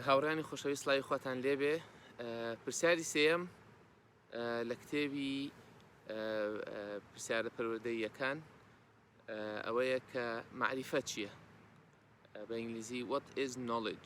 هاوڕیانی خۆشەوی سلاوی خواتان لێبێ پرسیاری سێەم لە کتێبی پرسیارە پەروەدەیەکان ئەوەیە کە معریفە چییە بە ئینگلیزی وەت ئز نۆلج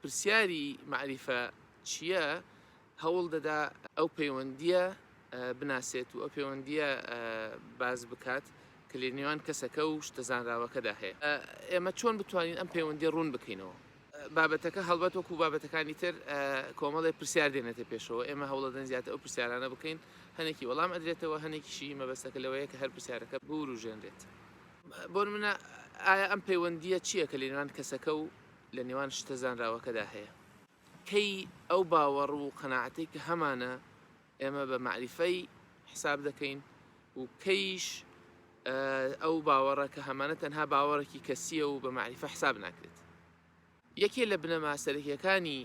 پرسیاری مەعریفە چییە هەوڵ دەدا ئەو پەیوەندییە بناسێت و ئەو پەیوەندییە باز بکات کە لە نێوان کەسەکە و شتە زانراوەکەدا هەیە ئێمە چۆن بتوانین ئەم پەیوەندی ڕوون بکەینەوە بابەتەکە هەڵبەت وەکو بابەتەکانی تر کۆمەڵی پرسیار دێنێتە پێشەوە ئێمە هەوڵەدەن زیاتر ئەو پرسیارانە بکەین هەنێکی وەڵام ئەدرێتەوە هەنێکیشی مەبەستەکە لەوەیە کە هەر پرسیارەکە بوروژێنرێت. بۆنمونە ئایا ئەم پەیوەندییە چییە کە لەنێوان کەسەکە و لەنێوان شتە زانراوەکەدا هەیە؟ کەی ئەو باوەڕ و قەناعەتەی کە هەمانە ئێمە بە مەعریفەی حساب دەکەین و کەیش ئەو باوەڕە کە هەمانە تەنها باوەڕێکی کەسییە و بە مەعریفە حساب ناکرێت؟ یەکێ لە بنەما سەرەکیەکانی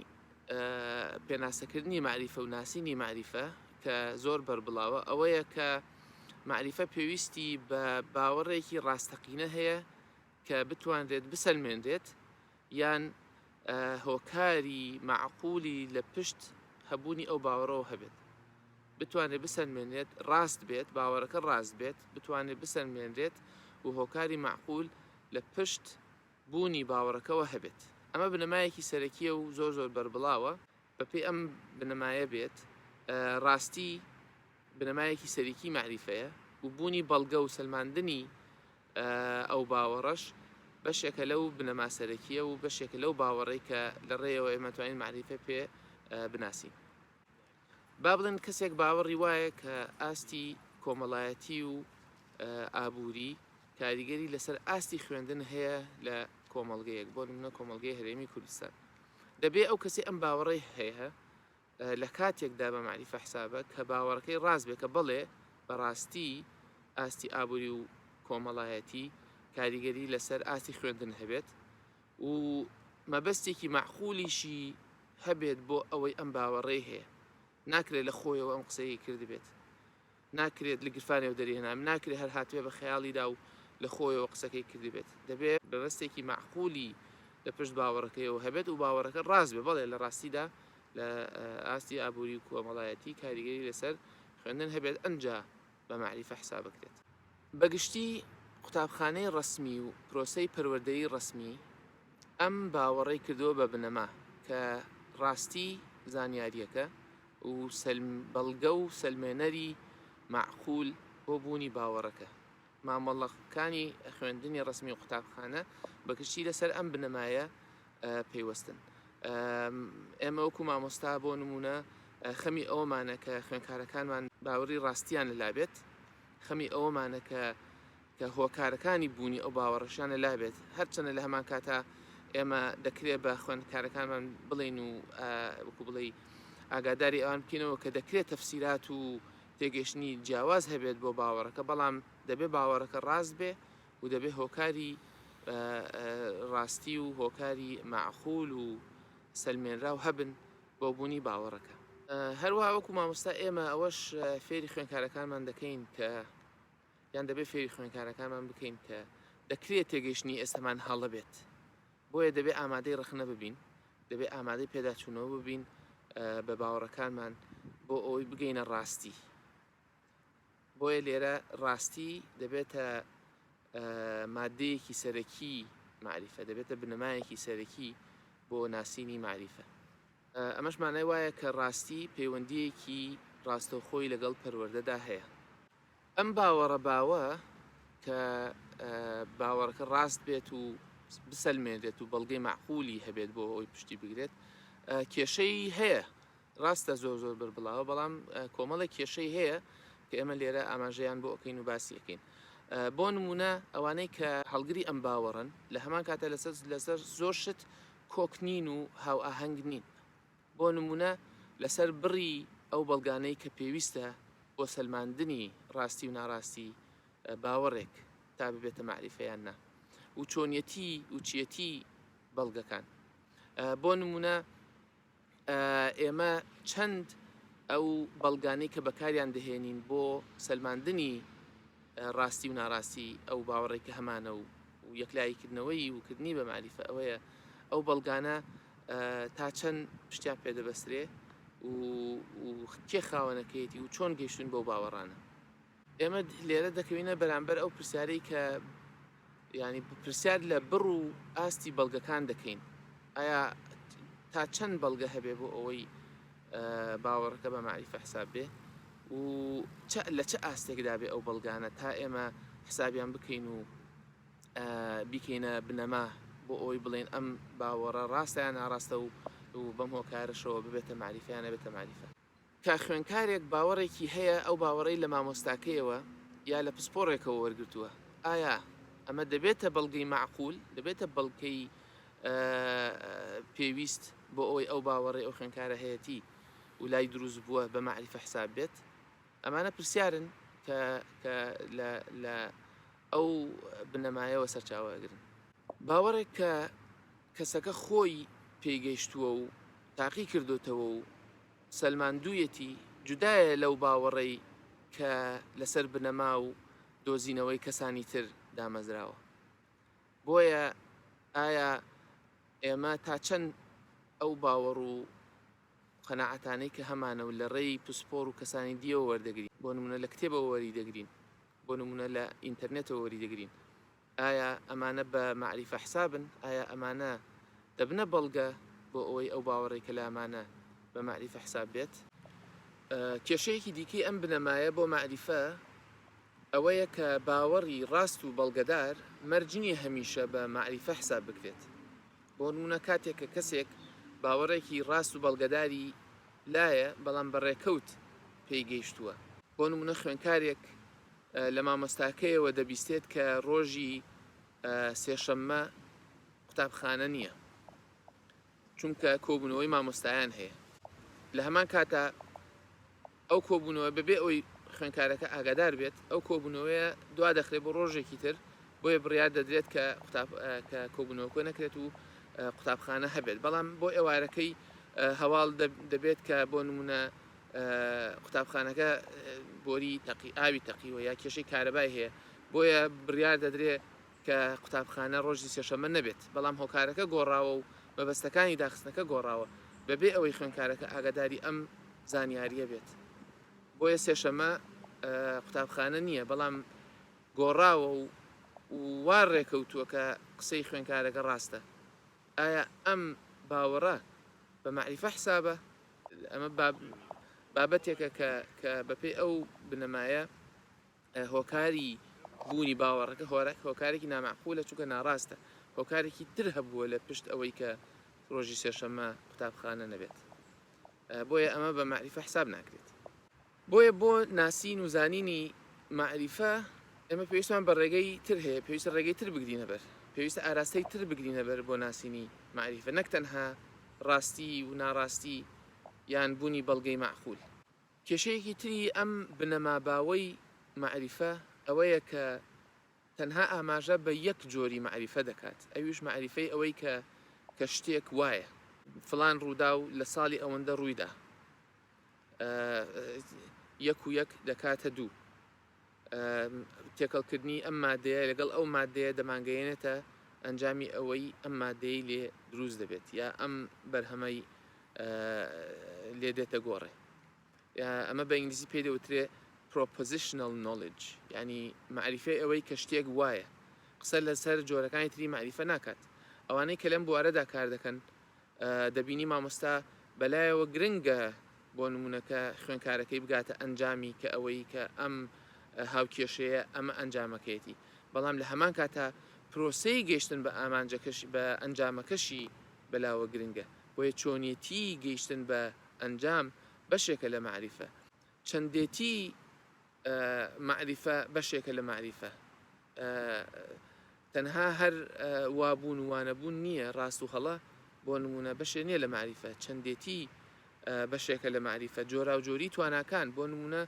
پێناسەکردنی مەعریفە و ناسینی مەعریفە کە زۆر بەربڵاوە ئەوەیە کە مەعریفە پێویستی بە باوەڕێکی ڕاستەقینە هەیە کە بتوانرێت بسەلمێنرێت یان هۆکاری معقولی لە پشت هەبوونی ئەو باوەڕەوە هەبێت بتوانێت بسەلمێنێت ڕاست بێت باوەڕەکە ڕاست بێت بتوانێت بسەلمێنرێت و هۆکاری معقول لە پشت بوونی باوەڕەکەوە هەبێت. ئەمە بنەمایەکی سەرەکییە و زۆر زۆر بەربڵاوە. بەپێی ئەم بنەمایە بێت، ڕاستی بنەمایەکی سەرەکیی مەعریفەیە و بوونی بەڵگە و سەلماندنی ئەو باوەڕەش بەشێکە لەو بنەما سەرەکییە و بەشێکە لەو باوەڕەی کە لە ڕێیەوە ئێمە توانین مەعریفە پێ بناسین. با بڵێن کەسێک باوەڕی وایە کە ئاستی کۆمەڵایەتی و ئابووری کاریگەری لەسەر ئاستی خوێندن هەیە لە کۆمەڵگەیەک بۆ نمونە کۆمەڵگەی هەرێمی کوردستان دەبێ ئەو کەسی ئەم باوەڕی هەیە لە کاتێکدا بە معریفە حسابە کە باوەڕەکەی ڕاست بێ کە بڵێ بەڕاستی ئاستی ئابووری و کۆمەڵایەتی کاریگەری لەسەر ئاستی خوێندن هەبێت و مەبەستێکی مەعقولیشی هەبێت بۆ ئەوەی ئەم باوەڕەی هەیە ناکرێت لە خۆیەوە ئەم قسەی کردبێت ناکرێت لە گرفانێ و دەرێنام ناکرێت هەر هاتوێ بە خەیاڵیدا و لە خۆیەوە قسەکەی کردبێت دەبێت بەبستێکی مەعقولی لە پشت باوەڕەکەیەوە هەبێت و باوەڕەکە ڕاست بێ بەڵێ لە ڕاستیدا لە ئاستی ئابووری و کۆمەڵایەتی کاریگەری لەسەر خوێندن هەبێت ئەنجا بە مەعریفە حسابەکرێت. بە گشتی قوتابخانەی ڕەسمی و پرۆسەی پەروەردەی ڕەسمی ئەم باوەڕەی کردووە بە بنەما کە ڕاستی زانیارییەکە و سەلم بەڵگە و سەلمێنەری مەعقول بۆ بوونی باوەڕەکە مامەڵەکانی خوێندنی ڕەسمی و قوتابخانە بە گشتی لەسەر ئەم بنەمایە پەیوەستن ئێمە وەکو مامۆستا بۆ نمونە خەمی ئەومانە کە خوێنکارەکانمان باوەڕی ڕاستیان لەلابێت خەمی ئەومانە کە کە هۆکارەکانی بوونی ئەو باوەڕشانە لابێت هەرچەنە لە هەمان کاتا ئێمە دەکرێت بە خوێندکارەکانمان بڵین و وەکو بڵێ ئاگاداری ئەوان بکەینەوە کە دەکرێت تەفسیرات و تێگەشتنی جیاواز هەبێت بۆ باوەڕەکە بەڵام دەبێت باوەڕەکە ڕاست بێ و دەبێ هۆکاری ڕاستی و هۆکاری مەعقول و سەلمێنراو هەبن بۆ بوونی باوەڕەکە. هەروەها وەکو مامۆستا ئێمە ئەوەش فێری خوێنکارەکانمان دەکەین کە یان دەبێ فێری خوێنکارەکانمان بکەین کە دەکرێت تێگەیشتنی ئێستەمان هەڵە بێت بۆیە دەبێ ئامادەی ڕەخنە ببین دەبێ ئامادەی پێداچوونەوە ببین بە باوەڕەکانمان بۆ ئەوەی بگەینە ڕاستی بۆیە لێرە ڕاستی دەبێتە ماددەیەکی سەرەکی مەعریفە، دەبێتە بنەمایەکی سەرەکی بۆ ناسینی مەعریفە. ئەمەش مانای وایە کە ڕاستی پەیوەندییەکی ڕاستەوخۆی لەگەڵ پەروەردەدا هەیە. ئەم باوەڕە باوە کە باوەڕەکە ڕاست بێت و بسەلمێنرێت و بەڵگەی مەعقوولی هەبێت بۆ ئەوەی پشتی بگرێت، کێشەی هەیە، ڕاستە زۆر زۆر بەربڵاوە بەڵام کۆمەڵێک کێشەی هەیە کە ئێمە لێرە ئاماژەیان بۆ ئەکەین و باسی ئەکەین بۆ نمونە ئەوانەی کە هەڵگری ئەم باوەڕن لە هەمان کاتە لەسەر لەسەر زۆر شت کۆکنین و هاو ئاهەنگ نین بۆ نمونە لەسەر بڕی ئەو بەڵگانەی کە پێویستە بۆ سەلماندنی ڕاستی و ناڕاستی باوەڕێک تا ببێتە معریفەیان نا و چۆنیەتی وچیەتی بەڵگەکان بۆ نمونە ئێمە چەند ئەو بەڵگانەی کە بەکاریان دەهێنین بۆ سەلماندنی ڕاستی و ناڕاستی ئەو باوەڕێک کە هەمانە و و یەکلاییکردنەوەی وکردنی بە مالیفە ئەوەیە ئەو بەڵگانە تا چەند شتیان پێدەبەسترێ و کێ خاوەنەکەیەتی و چۆن گەیشتون بەو باوەڕانە ئێمە لێرە دەکەوینە بەرامبەر ئەو پرسیارەی کە ینی پرسیار لە بڕ و ئاستی بەڵگەکان دەکەین ئایا تا چەند بەڵگە هەبێ بۆ ئەوەی باوەڕەکە بە معریفە حساب بێ و لە چه ئاستێکدا بێ ئەو بەڵگانە تا ئێمە حسابیان بکەین و بیکەینە بنەما بۆ ئەوەی بڵێن ئەم باوەڕە ڕاستیان ناڕاستە و و بەم هۆکارەشەوە ببێتە معریفیانە بێتە معریفە کە خوێنکارێک باوەڕێکی هەیە ئەو باوەڕەی لە مامۆستاکەیەوە یا لە پسپۆڕێکەوە وەرگرتووە ئایا ئەمە دەبێتە بەڵگەی مەعقول دەبێتە بەڵکەی پێویست بۆ ئەوەی ئەو باوەڕێ ئەو خوێنکارە هەیەتی و لای دروست بووە بە مەعریفە حساب بێت ئەمانە پرسیارن کە لە ئەو بنەمایەوە سەرچاوەگرن باوەڕێک کە کەسەکە خۆی پێی گەیشتووە و تاقی کردۆتەوە و سەلماندوویەتی، جودایە لەو باوەڕەی کە لەسەر بنەما و دۆزینەوەی کەسانی تر دامەزراوە. بۆیە ئایا ئێمە تا چەند ئەو باوەڕ و قەناعەتانەی کە هەمانە و لە ڕێی پسپۆڕ و کەسانی دیەوە وەردەگرین، بۆ نموونە لە کتێبەوە وەریدەگرین، بۆ نموونە لە ئینتەرنێتەوە وەریدەگرین، ئایا ئەمانە بە مەعریفە حسابن؟ ئایا ئەمانە دەبنە بەڵگە بۆ ئەوەی ئەو باوەڕەی کە لامانە بە مەعریفە حساب بێت؟ کێشەیەکی دیکەی ئەم بنەمایە بۆ مەعریفە ئەوەیە کە باوەڕی ڕاست و بەڵگەدار مەرج نییە هەمیشە بە مەعریفە حساب بکرێت. بۆ نموونە کاتێک کە کەسێک باوەڕێکی ڕاست و بەڵگەداری لایە بەڵام بە ڕێکەوت پێی گەیشتووە، بۆ نموونە خوێندکارێک لە مامۆستاکەیەوە دەبیستێت کە ڕۆژی سێشەممە قوتابخانە نییە، چونکە کۆبوونەوەی مامۆستایان هەیە. لە هەمان کاتدا ئەو کۆبوونەوە بەبێ ئەوەی خوێندکارەکە ئاگادار بێت، ئەو کۆبوونەوەیە دوادەخرێت بۆ ڕۆژێکی تر، بۆیە بڕیار دەدرێت کە کۆبوونەوەکە نەکرێت و قوتابخانە هەبێت، بەڵام بۆ ئێوارەکەی هەواڵ دەبێت کە بۆ نموونە قوتابخانەکە بۆری تەقی ئاوی تەقیوە یا کێشەی کارەبای هەیە بۆیە بڕیار دەدرێ کە قوتابخانە ڕۆژی سێشەمە نەبێت بەڵام هۆکارەکە گۆڕاوە و مەبەستەکانی داخستنەکە گۆڕاوە بەبێ ئەوەی خوێنکارەکە ئاگاداری ئەم زانیاریە بێت بۆیە سێشەمە قوتابخانە نییە بەڵام گۆڕاوە و وا ڕێکەوتووە کە قسەی خوێنکارەکە ڕاستە ئایا ئەم باوەڕە بە مەعریفە حسابە؟ ئەمە بابەتێکە کە بەپێی ئەو بنەمایە هۆکاری بوونی باوەڕەکە هۆرەک هۆکارێکی نامەعقولە چونکە ناڕاستە هۆکارێکی تر هەبووە لە پشت ئەوەی کە ڕۆژی سێشەممە قوتابخانە نەبێت بۆیە ئەمە بە مەعریفە حساب ناکرێت. بۆیە بۆ ناسین و زانینی مەعریفە ئێمە پێویستمان بە ڕێگەی تر هەیە، پێویستە ڕێگەی تر بگرینە بەر، پێویستە ئاراستەی تر بگرینە بەر بۆ ناسینی مەعریفە، نەک تەنها ڕاستی و ناڕاستی یان بوونی بەڵگەی مەعقول. کێشەیەکی تری ئەم بنەما باوەی مەعریفە ئەوەیە کە تەنها ئاماژە بە یەک جۆری مەعریفە دەکات، ئەویش مەعریفەی ئەوەی کە کە شتێک وایە، فڵان ڕووداو لە ساڵی ئەوەندە ڕوویدا، یەک و یەک دەکاتە دوو. تێکەڵکردنی ئەم مادەیە لەگەڵ ئەو مادەیە دەمانگەیەنێتە ئەنجامی ئەوەی ئەم مادەی لێ دروست دەبێت یا ئەم بەرهەمەی لێ دێتە گۆڕێ ئەمە بە ئینگلیزی پێ دەوترێ پرۆپۆزیشنل نۆلج ینی معریفەی ئەوەی کە شتێک وایە قسە لەسەر جۆرەکانی تری معریفە ناکات ئەوانەی کە لەم بوارەدا کار دەکەن دەبینی مامۆستا بەلایەوە گرنگە بۆ نمونە کە خوێنکارەکەی بگاتە ئەنجامی کە ئەوەی کە ئەم هاوکێشەیە ئەمە ئەنجامەکەیەتی بەڵام لە هەمان کاتا پرۆسەی گەیشتن بە ئامانجەکەش بە ئەنجامەکەشی بەلاوە گرنگە بۆیە چۆنیەتی گەیشتن بە ئەنجام بەشێکە لە مەعریفە چەندێتی مەعریفە بەشێکە لە مەعریفە. تەنها هەر وابوون و وانەبوون نییە، ڕاست و هەڵە بۆ نموونە بەشێ نییە لە مەعریفە، چەندێتی بەشێکە لە مەعریفە، جۆراوجۆریی تواناکان، بۆ نموونە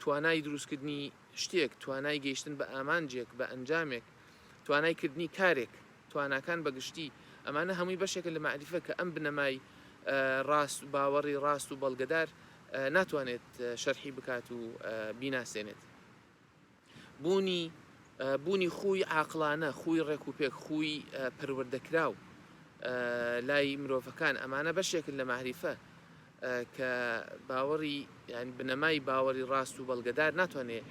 توانای دروستکردنی شتێک، توانای گەیشتن بە ئامانجێک، بە ئەنجامێک، توانای کردنی کارێک، تواناکان بە گشتی، ئەمانە هەمووی بەشێکە لە مەعریفە کە ئەم بنەمای ڕاست، باوەڕی ڕاست و بەڵگەدار ناتوانێت شەرحی بکات و بیناسێنێت بوونی بوونی خووی عاقڵانە خووی ڕێک و پێک خووی پەروەردەکراو لای مرۆڤەکان ئەمانە بەشێکن لە مەعریفە کە باوەڕی یان بنەمای باوەڕی ڕاست و بەڵگەدار ناتوانێت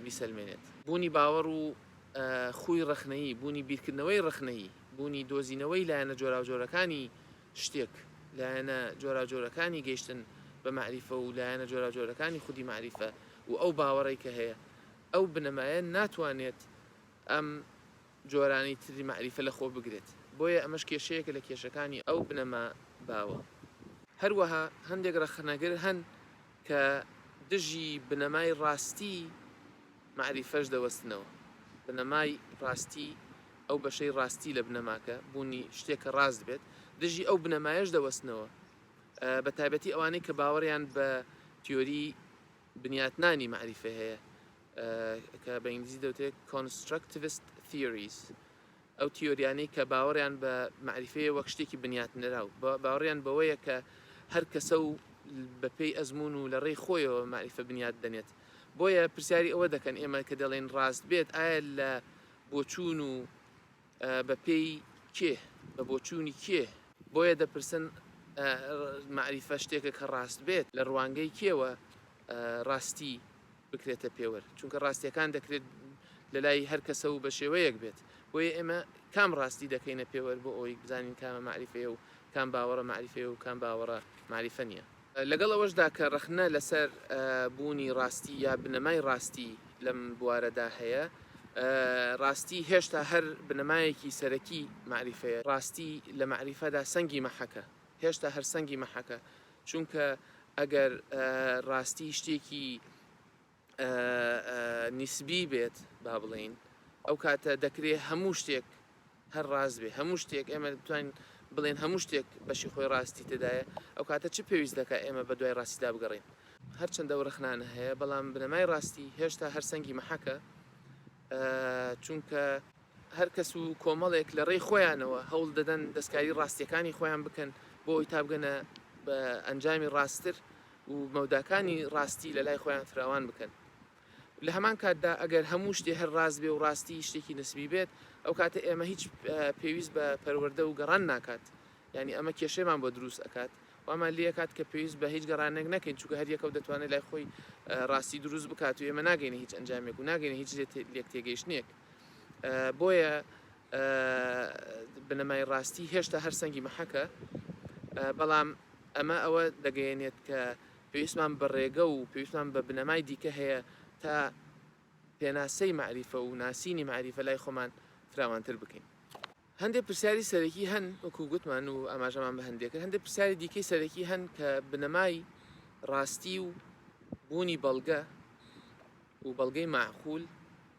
بیسەلمێنێت بوونی باوەڕ و خووی ڕەخنەیی بوونی بیرکردنەوەی ڕەخنەیی بوونی دۆزینەوەی لایەنە جۆراوجۆرەکانی شتێک، لایەنە جۆراوجۆرەکانی گەیشتن بە مەعریفە و لایەنە جۆراوجۆرەکانی خودی مەعریفە و ئەو باوەڕەی کە هەیە، ئەو بنەمایە ناتوانێت ئەم جۆرانەی تری مەعریفە لە خۆ بگرێت، بۆیە ئەمەش کێشەیەکە لە کێشەکانی ئەو بنەما باوە. هەروەها هەندێک ڕەخنەگر هەن کە دژی بنەمای ڕاستیی مەعریفەش دەوەستنەوە، بنەمای ڕاستی ئەو بەشەی ڕاستی لە بنەماکە، بوونی شتێکە ڕاست بێت، دژی ئەو بنەمایەش دەوەستنەوە، بە تایبەتی ئەوانەی کە باوەڕیان بە تیۆریی بنیاتنانی مەعریفە هەیە، کە بە ئینگلیزی دەوترێت Constructivist Theories، ئەو تیۆریانەی کە باوەڕیان بە مەعریفەیە وەک شتێکی بنیاتنراو، باوەڕیان بەوەیە کە هەر کەسە و بەپێی ئەزموون و لە ڕێی خۆیەوە مەعریفە بنیات دەنێت. بۆیە پرسیاری ئەوە دەکەن، ئێمە کە دەڵێین ڕاست بێت، ئایا لە بۆچوون و بە پێی کێ؟ بە بۆچوونی کێ؟ بۆیە دەپرسن مەعریفە شتێکە کە ڕاست بێت؟ لە ڕوانگەی کێوە ڕاستی بکرێتە پێوەر؟ چونکە ڕاستییەکان دەکرێت لە لای هەر کەسە و بە شێوەیەک بێت، بۆیە ئێمە کام ڕاستی دەکەینە پێوەر بۆ ئەوەی بزانین کامە مەعریفەیە و کام باوەڕە مەعریفەیە و کام باوەڕە مەعریفە نییە؟ لەگەڵ ئەوەشدا کە ڕەخنە لەسەر بوونی ڕاستی یا بنەمای ڕاستی لەم بوارەدا هەیە، ڕاستی هێشتا هەر بنەمایەکی سەرەکی مەعریفەیە، ڕاستی لە مەعریفەدا سەنگی مەحەکە، هێشتا هەر سەنگی مەحەکە، چونکە ئەگەر ڕاستی شتێکی نیسبی بێت با بڵێین ئەو کاتە دەکرێ هەموو شتێک هەر ڕاست بێ هەموو شتێک ئێمە بتوانین بڵێن هەموو شتێک بەشی خۆی ڕاستی تێدایە ئەو کاتە چ پێویست دەکە ئێمە بە دوای ڕاستیدا بگەڕێین هەرچەندە ئەو ڕەخنانە هەیە بەڵام بنەمای ڕاستی هێشتا هەر سەنگی مەحەکە چونکە هەر کەس و کۆمەڵێک لە ڕێی خۆیانەوە هەوڵ دەدەن دەستکاری ڕاستیەکانی خۆیان بکەن بۆ ئەوی تابگەنە بە ئەنجامی ڕاستتر و مەوداکانی ڕاستی لە لای خۆیان فراوان بکەن. لە هەمان کاتدا ئەگەر هەموو شتێ هەر ڕاست بێ و ڕاستی شتێکی نسبی بێت، ئەو کاتە ئێمە هیچ پێویست بە پەروەردە و گەڕان ناکات، یانی ئەمە کێشەیمان بۆ دروست ئەکات، وامان لێ ئەکات کە پێویست بە هیچ گەڕانێک نەکەین، چونکە هەر یەکەو دەتوانێ لای خۆی ڕاستی دروست بکات و ئێمە ناگەینە هیچ ئەنجامێک و ناگەینە هیچ لێکتێگەیشتنێک. بۆیە بنەمای ڕاستی هێشتا هەر سەنگی مەحەکە، بەڵام، ئەمە ئەوە دەگەیەنێت کە پێویستمان بە ڕێگە و پێویستمان بە بنەمای دیکە هەیە تا پێناسەی مەعریفە و ناسینی مەعریفە لای خۆمان فراوانتر بکەین. هەندێک پرسیاری سەرەکی هەن، وەکو گوتمان و ئاماژەمان بە هەندێک کرد، هەندێک پرسیاری دیکەی سەرەکی هەن کە بنەمای ڕاستی و بوونی بەڵگە و بەڵگەی مەعقول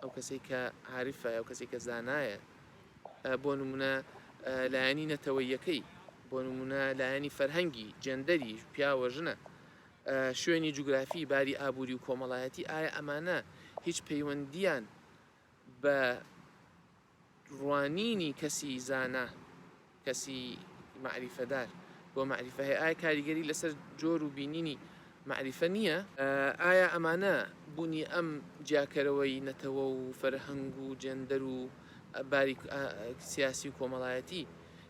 ئەو کەسەی کە عارفە، ئەو کەسەی کە زانایە، بۆ نموونە لایەنی نەتەوەیەکەی، بۆ نموونە لایەنی فەرهەنگی، جێندەری، پیاوە، ژنە، شوێنی جوگرافی، باری ئابووری و کۆمەڵایەتی، ئایا ئەمانە هیچ پەیوەندییان بە ڕوانینی کەسی زانا، کەسی مەعریفەدار بۆ مەعریفە هەیە، ئایا کاریگەری لەسەر جۆر و بینینی مەعریفە نییە؟ ئایا ئەمانە بوونی ئەم جیاکەرەوەی نەتەوە و فەرهەنگ و جێندەر و باری سیاسی و کۆمەڵایەتی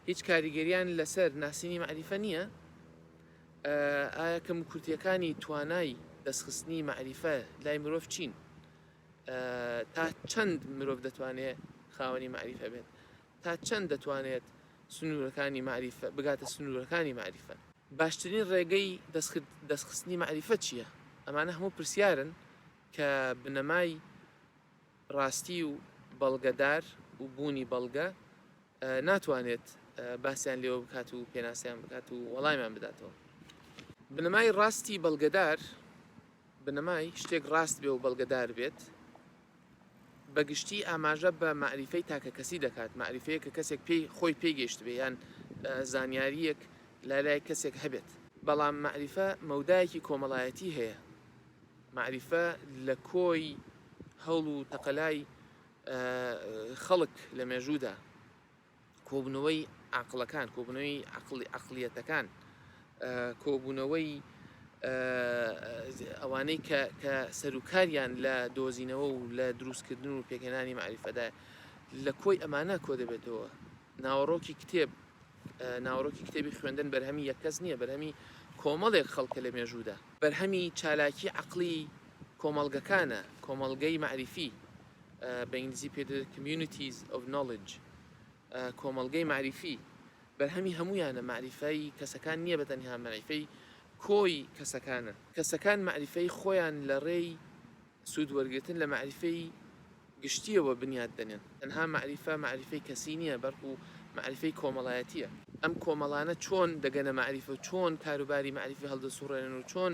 هیچ کاریگەرییان لەسەر ناسینی مەعریفە نییە؟ ئایا کەموکورتییەکانی توانای دەستخستنی مەعریفە لای مرۆڤ چین؟ تا چەند مرۆڤ دەتوانێ خاوەنی مەعریفە بێت؟ تا چەند دەتوانێت سنوورەکانی مەعریفە، بگاتە سنوورەکانی مەعریفە؟ باشترین ڕێگەی دەستخستنی مەعریفە چییە؟ ئەمانە هەموو پرسیارن کە بنەمای ڕاستی و بەڵگەدار و بوونی بەڵگە ناتوانێت باسیان لێوە بکات و پێناسەیان بکات و وەڵامیان بداتەوە. بنەمای ڕاستی بەڵگەدار بنەمای شتێک ڕاست بێ و بەڵگەدار بێت، بە گشتی ئاماژە بە مەعریفەی تاکەکەسی دەکات، مەعریفەیەک کە کەسێک پێی خۆی پێی گەیشتبێ یان زانیارییەک لە لای کەسێک هەبێت. بەڵام مەعریفە مەودایەکی کۆمەڵایەتی هەیە، مەعریفە لە کۆی هەوڵ و تەقەلای خەڵک لە مێژوودا کۆبوونەوەی عەقڵەکان، کۆبوونەوەی عەقڵی عەقڵیەتەکان، کۆبوونەوەی ئەوانەی کە کە سەروکاریان لە دۆزینەوە و لە دروستکردن و پێکهێنانی معریفەدا لە کۆی ئەمانە کۆ دەبێتەوە ناوەڕۆکی کتێب ناوەڕۆکی کتێبی خوێندن بەرهەمی یەکەس نییە بەرهەمی کۆمەڵێک خەڵکە لە مێژوودا بەرهەمی چالاکی عقلی کۆمەڵگەکانە کۆمەڵگەی معریفی بە ئینگلیزی پێ دەوترێت Communities of Knowledge، کۆمەڵگەی مەعریفی، بەرهەمی هەموویانە، مەعریفەی کەسەکان نییە بە تەنها، مەعریفەی کۆی کەسەکانە. کەسەکان مەعریفەی خۆیان لە ڕێی سوود وەرگرتن لە مەعریفەی گشتییەوە بنیات دەنێن. تەنها مەعریفە، مەعریفەی کەسی نییە، بەڵکو مەعریفەی کۆمەڵایەتییە. ئەم کۆمەڵانە چۆن دەگەنە مەعریفە و چۆن کاروباری مەعریفی هەڵدەسووڕێنن و چۆن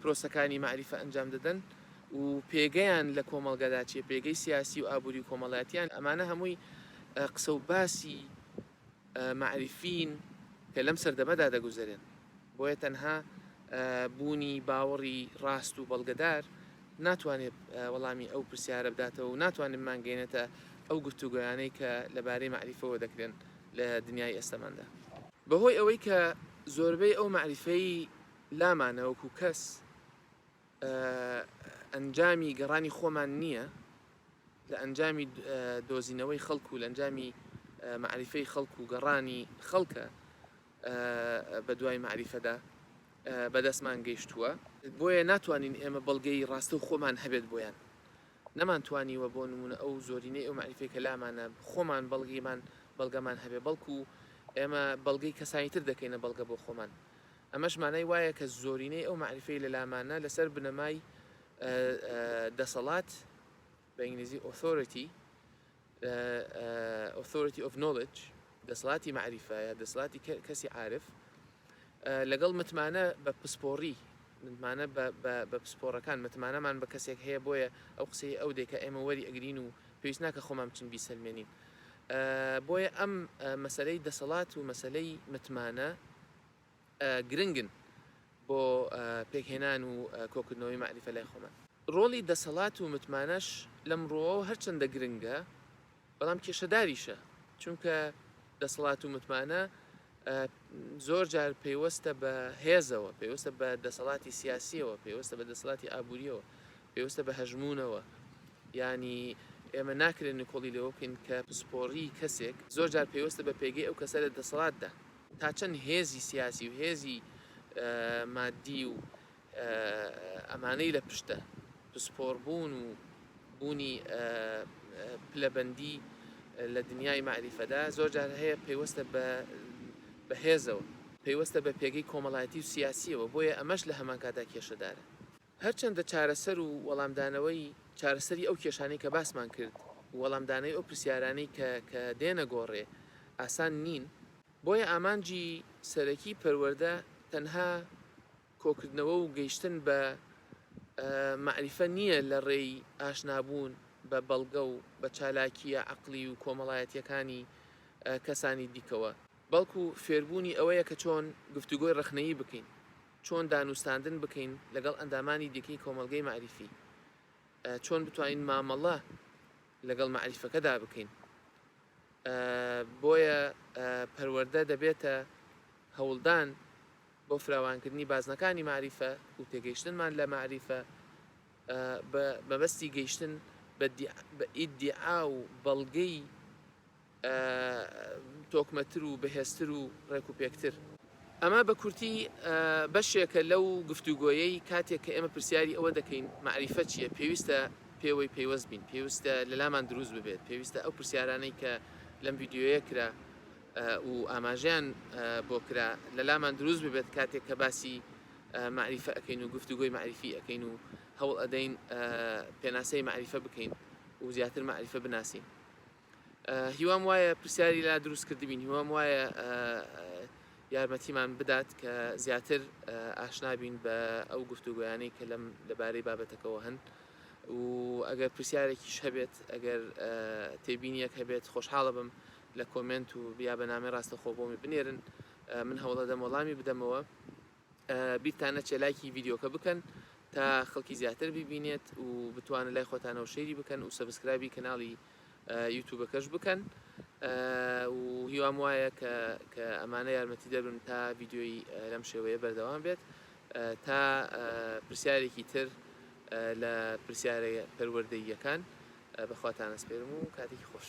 پرۆسەکانی مەعریفە ئەنجام دەدەن و پێگەیان لە کۆمەڵگەدا چیە، پێگەی سیاسی و ئابووری و کۆمەڵایەتیان، ئەمانە هەمووی قسە و باسی مەعریفین کە لەم سەردەمەدا دەگوزەرێن، بۆیە تەنها بوونی باوەڕی ڕاست و بەڵگەدار ناتوانێت وەڵامی ئەو پرسیارە بداتەوە و ناتوانێت بمانگەیەنێتە ئەو گفتوگۆیانەی کە لەبارەی مەعریفەوە دەکرێن لە دنیای ئێستەماندا. بەهۆی ئەوەی کە زۆربەی ئەو مەعریفەی لامانە وەکو کەس ئەنجامی گەڕانی خۆمان نیە لە ئەنجامی دۆزینەوەی خەڵک و لەنجامی معریفەی خەڵک و گەڕانی خەڵکە بە دوای معریفەدا بەدەستمان گەیشتووە بۆیە ناتوانین ئێمە بەڵگەی ڕاستەو خۆمان هەبێت بۆیان نەمان توانیوە بۆ نمونە ئەو زۆرینەی ئەو معریفەی کە لامانە خۆمان بەڵگیمان بەڵگەمان هەبێ بەڵکو ئێمە بەڵگەی کەسانی تر دەکەینە بەڵگە بۆ خۆمان ئەمەش مانای وایە کە زۆرینەی ئەو مەعریفەی لە لامانە لەسەر بنەمای دەسەڵات، بە ئینگلیزی، Authority، Authority of Knowledge، دەسەڵاتی مەعریفە یا دەسەڵاتی کەسی عارف، لەگەڵ متمانە بە پسپۆڕی متمانە بە پسپۆڕەکان متمانەمان بە کەسێک هەیە بۆیە ئەو قسەی ئەو دێکە ئێمە وەری ئەگرین و پێویست ناکە خۆمان بچین بیسەلمێنین بۆیە ئەم مەسلەی دەسەڵات و مەسلەی متمانە گرنگن بۆ پێکهێنان و کۆکردنەوەی مەعریفە لای خۆمان. ڕۆڵی دەسەڵات و متمانەش لەم ڕووەوە هەرچەندە گرنگە، بەڵام کێشەداریشە، چونکە دەسەڵات و متمانە زۆر جار پەیوەستە بە هێزەوە، پەیوەستە بە دەسەڵاتی سیاسییەوە، پەیوەستە بە دەسەڵاتی ئابوورییەوە، پەیوەستە بە هەژموونەوە، یانی ئێمە ناکرێ نکۆڵی لەوە بکەین کە پسپۆڕیی کەسێک زۆر جار پەیوەستە بە پێگەی ئەو کەسە لە دەسەڵاتدا. تا چەند هێزی سیاسی و هێزی مادی و ئەمانەی لە پشتە، پسپۆربوون و بوونی پلەبەندی لە دنیای مەعریفەدا، زۆر جار هەیە پەیوەستە بە بە هێزەوە، پەیوەستە بە پێگەی کۆمەڵایەتی و سیاسییەوە، بۆیە ئەمەش لە هەمانکاتدا کێشەدارە. هەرچەندە چارەسەر و وەڵامدانەوەی چارەسەری ئەو کێشانەی کە باسمان کرد و وەڵامدانەی ئەو پرسیارانەی کە کە دێنە گۆڕێ ئاسان نین، بۆیە ئامانجی سەرەکی پەروەردە تەنها کۆکردنەوە و گەیشتن بە مەعریفە نییە لە ڕێی ئاشنابوون بە بەڵگە و بە چالاکییە عەقڵی و کۆمەڵایەتییەکانی کەسانی دیکەوە، بەڵکو فێربوونی ئەوەیە کە چۆن گفتوگۆی ڕەخنەیی بکەین چۆن دانوستاندن بکەین لەگەڵ ئەندامانی دیکەی کۆمەڵگەی مەعریفی، چۆن بتوانین مامەڵە لەگەڵ مەعریفەکەدا بکەین. بۆیە پەروەردە دەبێتە هەوڵدان بۆ فراوانکردنی بازنەکانی مەعریفە و تێگەیشتنمان لە مەعریفە بە مەبەستی گەیشتن بە ئیدیعا و بەڵگەی تۆکمەتر و بەهێزتر و ڕێکوپێکتر. ئەمە بە کورتی بەشێکە لەو گفتوگۆیەی کاتێک کە ئێمە پرسیاری ئەوە دەکەین مەعریفە چییە پێویستە پێوەی پەیوەست بین، پێویستە لەلامان دروست ببێت، پێویستە ئەو پرسیارانەی کە لەم ڤیدیۆیە کرا و ئاماژەیان بۆ کرا لەلامان دروست ببێت کاتێک کە باسی مەعریفە ئەکەین و گفتوگۆی مەعریفی ئەکەین و هەوڵ ئەدەین پێناسەی مەعریفە بکەین و زیاتر مەعریفە بناسین. هیوام وایە پرسیاری لا دروست کردبین هیوام وایە یارمەتیمان بدات کە زیاتر ئاشنابین بە ئەو گفتوگویانەی کە لەم لەبارەی بابەتەکەەوە هەن و ئەگەر پرسیارێکیش هەبێت ئەگەر تێبینیەک هەبێت خۆشحاڵە بم لە کۆمنت و بیا بەنامەی ڕاستەخۆ بۆمی بنێرن من هەوڵەدەم وەڵامی بدەمەوە بیرتان نەچێ لایکی ڤیدیۆکە بکەن تا خەڵکی زیاتر ببینێت و بتوانن لای خۆتانەوە شەیری بکەن و سەبسکرابی کەناڵی یوتوبەکەش بکەن و هیوام وایە کە کە ئەمانە یارمەتی دەبن تا ڤیددیۆی لەم شێوەیە بەردەوام بێت تا پرسیارێکی تر لە پرسیارە پەروەردەییەکان بەخواتانە سپێرم و کاتێکی خۆش.